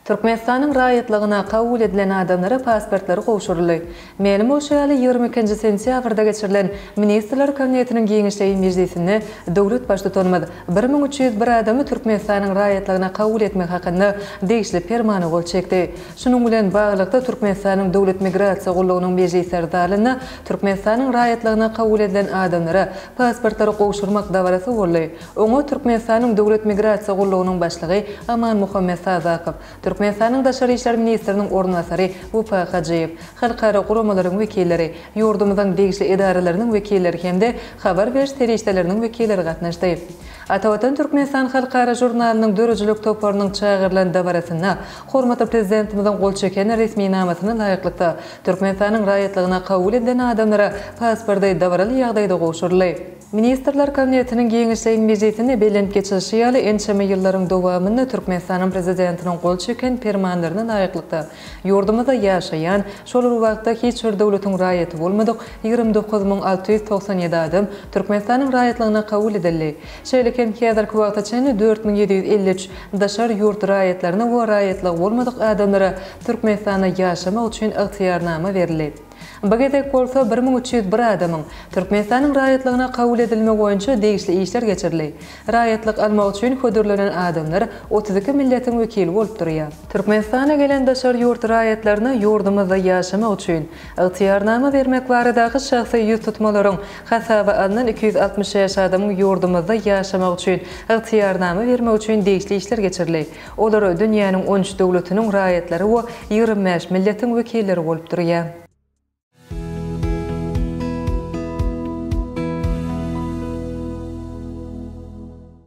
Türkmenistanyň raýatlygyna kabul edilen adamlara pasportlary gowşuryldy. Mälim bolşy ýaly, ýigrimi ikinji sentýabrda geçirilen Ministrler Kabinetiniň giňişleýin mejlisinde döwlet Baştutanymyz bir müň üç ýüz bir adamy Türkmenistanyň raýatlygyna kabul etmek hakynda degişli Permana gol çekdi. Şunuň bilen baglylykda, Türkmenistanyň Döwlet migrasiýa gullugynyň mejlisler zalynda Türkmenistanyň raýatlygyna kabul edilen adamlara pasportlary gowşurmak dabarasy boldy. Oňa Türkmenistanyň Döwlet migrasiýa gullugynyň başlygy Amanmuhammet Sadakow, Türkmenistanyň Daşary işler ministriniň orunbasary Wepa Hajyýew, halkara guramalaryň wekilleri, ýurdumyzyň degişli edaralarynyň wekilleri hem-de habar beriş serişdeleriniň wekilleri gatnaşdy. Atavatan Türkmenistan halkara žurnalynyň döredijilik toparynyň çagyrylan dabarasynda Hormatly Prezidentimiziň gol çeken resminamasyna laýyklykda, Türkmenistanyň raýatlygyna kabul edilen adamlara pasporty dabaraly ýagdaýda gowşuryldy. Ministrler Kabinetiniň giňişleýin mejlisinde belent geçilişi ýaly, ençeme ýyllaryň dowamynda Türkmenistanyň Prezidentiniň gol çeken Permanlaryna laýyklykda, ýurdumyzda ýaşaýan, şol bir wagtda hiç bir döwletiň raýaty bolmadyk ýigrimi dokuz müň alty ýüz togsan ýedi adam Türkmenistanyň raýatlygyna kabul edildi. Şeýle hem häzirki wagta çenli dört müň ýedi ýüz elli üç daşary ýurt raýatlaryna we raýatlygy bolmadyk adamlara Türkmenistanda ýaşamak üçin ygtyýarnama berildi. Bu gezek bolsa bir müň üç ýüz bir adamyň Türkmenistanyň raýatlygyna kabul edilmegi boýunça degişli işler geçirildi. Raýatlyk almak üçin hödürlenen adamlar otuz iki milletiň wekili bolup durýar. Türkmenistana gelen daşary ýurt raýatlaryna ýurdumyzda ýaşamak üçin, Ygtyýarnama bermek baradaky şahsy ýüztutmalaryň hasaba alnan iki ýüz altmyş bäş adamyň ýurdumyzda ýaşamak üçin ygtyýarnama bermek üçin degişli işler geçirildi. Olar dünýäniň on üç döwletiniň raýatlary we ýigrimi bäş milletiň wekilleri bolup durýar.